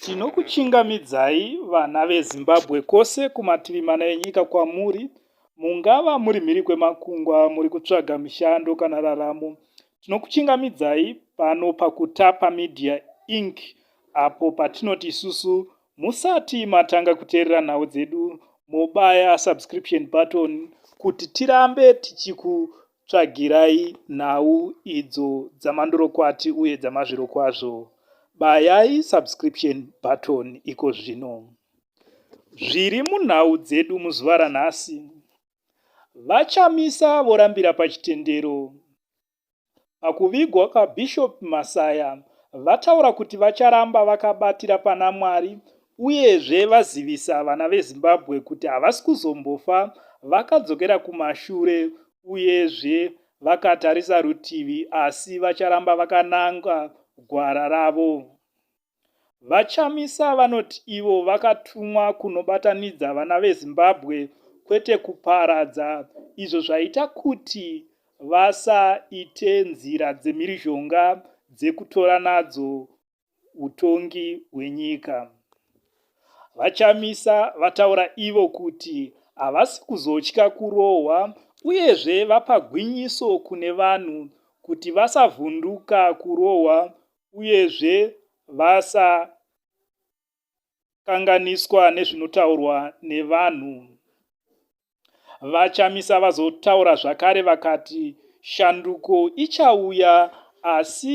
Tinokuchingamidzai vana veZimbabwe kwose kumativi mana enyika kwamuri mungava muri mhiri kwemakungwa muri kutsvaga mishando kana raramo. Tinokuchingamidzai pano paKutapa Media Inc apo patinoti isusu musati matanga kuteerera nhau dzedu mobaya subscription button kuti tirambe tichiku Tsvagirai nhau idzo dzamandorokwati uye dzamazvirokwazvo. Bayai subscription button iko zvino. Zviri munhau dzedu muzuva ranhasi. VaChamisa vorambira pachitendero. Pakuvigwa kwaBishop Masaya vataura kuti vacharamba vakabatira pana Mwari uyezve vazivisa vana vezimbabwe kuti havasi kuzombofa vakadzokera kumashure uyezve vakatarisa rutivi asi vacharamba vakananga gwara ravo vachamisa vanoti ivo vakatumwa kunobatanidza vana vezimbabwe kwete kuparadza izvo zvaita kuti vasaite nzira dzemhirizhonga dzekutora nadzo utongi hwenyika. VaChamisa vataura ivo kuti havasi kuzotya kurohwa uyezve vapa gwinyiso kune vanhu kuti vasavhunduka kurohwa uyezve vasaita kukanganiswa nezvinotaurwa nevanhu. VaChamisa vazotaura zvakare vakati shanduko ichauya asi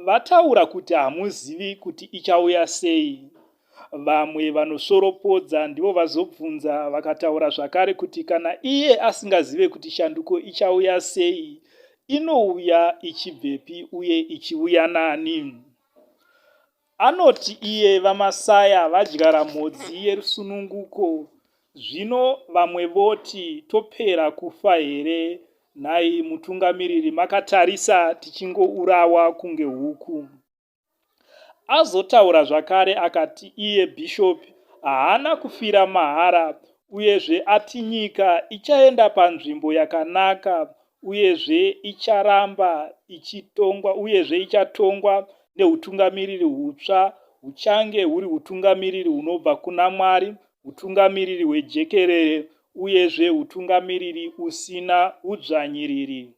vataura kuti hamuzivi kuti ichauya sei. Vamwe vanosvoropodza ndivo vazobvunza vakataura zvakare kuti kana iye asingazive kuti shanduko ichauya sei, inouya ichibvepi uye ichiuya nani? Anoti iye VaMasaya vadyara mhodzi yerusununguko zvino vamwe voti topera kufa here nhai mutungamiriri makatarisa tichingourawa kunge huku. Azotaura zvakare akati iye Bishop haana kufira mahara uyezve ati nyika ichaenda panzvimbo yakanaka uyezve icharamba ichitongwa uyezve ichatongwa neutungamiriri hutsva huchange huri utungamiriri hunobva kuna mwari utungamiriri hwejekerere uyezve utungamiriri usina udzvanyiriri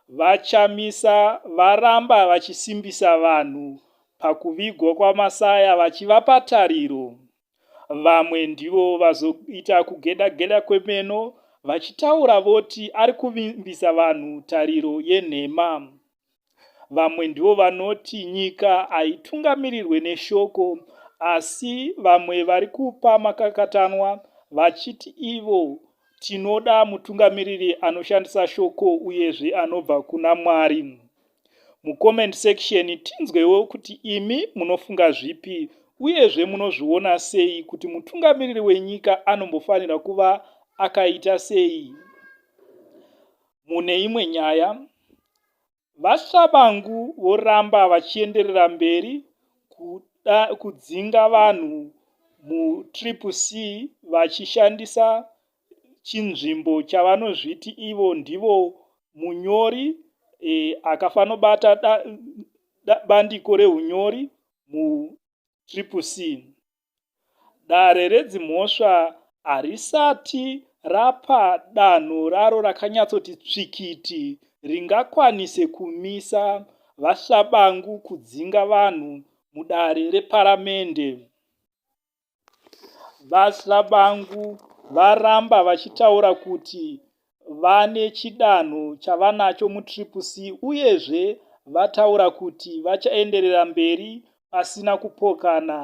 vachamisa varamba vachisimbisa vanhu pakuvigwa kwamasaya vachivapa tariro Vamwe ndivo vazoita kugedageda kwemeno vachitaura voti ari kuvimbisa vanhu tariro yenhema. Vamwe ndivo vanoti nyika haitungamirirwe neshoko asi vamwe vari kupa makakatanwa vachiti ivo tinoda mutungamiriri anoshandisa shoko uyezve anobva kuna Mwari. Mucomment section tinzwewo kuti imi munofunga zvipi uyezve munozviona sei kuti mutungamiriri wenyika anombofanira kuva akaita sei. Mune imwe nyaya, VaShabangu voramba vachienderera mberi kuda kudzinga vanhu muTriple C vachishandisa chinzvimbo chavanozviti ivo ndivo munyori e, akafanobata da, da, bandiko reunyori mutriple c dare redzimhosva harisati rapa danho raro rakanyatsoti tsvikiti ringakwanise kumisa vashabangu kudzinga vanhu mudare reparamende VaHlabangu varamba vachitaura kuti vane chidanho chavanacho muTriple C uyezve vataura kuti vachaenderera mberi pasina kupokana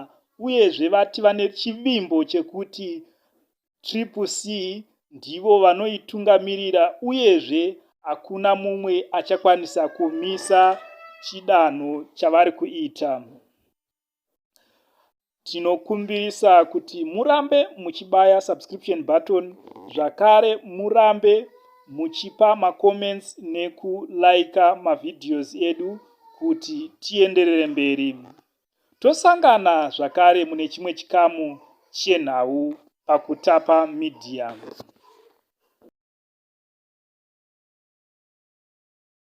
uyezve vati vane chivimbo chekuti Triple C ndivo vanoitungamirira uyezve hakuna mumwe achakwanisa kumisa chidanho chavari kuita. tinokumbirisa kuti murambe muchibaya subscription button zvakare murambe muchipa macomments nekulaika mavideos edu kuti tienderere mberi tosangana zvakare mune chimwe chikamu chenhau pakutapa media